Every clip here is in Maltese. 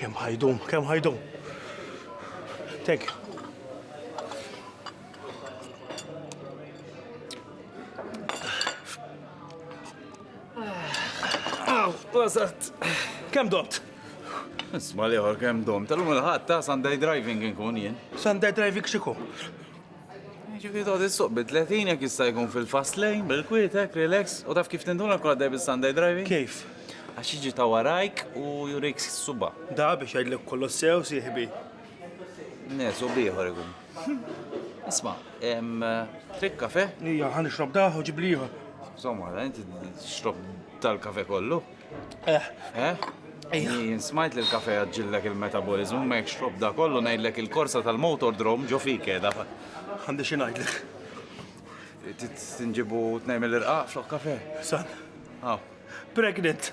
Kemm ħajdum, kemm ħajdum. Thank you. Wasat. Kem domt? Isma liħor kem domt. Tal-lum il-ħat ta' Sunday driving nkun jien. Sunday driving xiku? Ġifieri tgħod issuq bi 30 jekk jista' jkun fil-fast lane, bil-kwietek, relax, u taf kif tinduna jkun għaddej bis-Sunday driving? Kif? Għax jiġi ta' warajk u jurik s-suba'. Da biex jgħidlek kollox sew, sieħbi. Ne, subi ieħor ikun. Isma', trid kafe? Ija, ħa nixrob dah u ġibli ieħor. Somma, inti tixrob dal-kafe kollu? Smajt li l-kafe għadġillek il-metabolizmu, ma jekx xob da kollu ngħidlek il-korsa tal-motor drom ġo fik edha. Għandi xi ngħidlek. Tinġibu tnejn mill-irqaq flok kafe? San. Pregnant.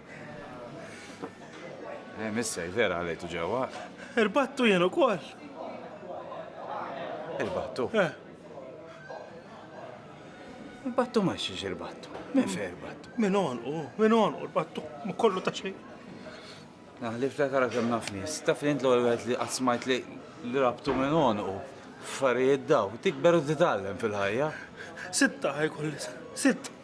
Eh, missej, vera għalajtu ġewwa. Irbattu jien ukoll. Irbattu? Eh. Irbattu ma xiex irbattu. Min fe irbattu? Min onqu, min onqu irbattu, ma kollu ta' xejn. Naħlif ta' kara kemm naf nies. Taf li int l-ewwel li qatt smajt li li rabtu minn onqu. Affarijiet daw, tikber u titgħallem fil-ħajja. Sitta ħajkolli, sitta.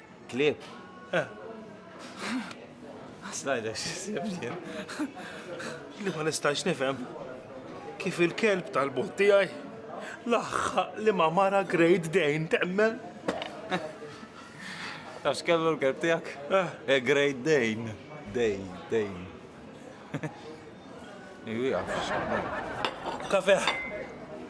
Klieb? Eh. Ħass ngħidlek x'isib jien. Li ma nistax nifhem kif il-kelb tal-bot tiegħi laħħaq li ma mara Great Dane temmen. Taf x'kellu l-kelb tiegħek? Eh. eh Great Dane. Dej, dej. Iwi għaf. Kafe.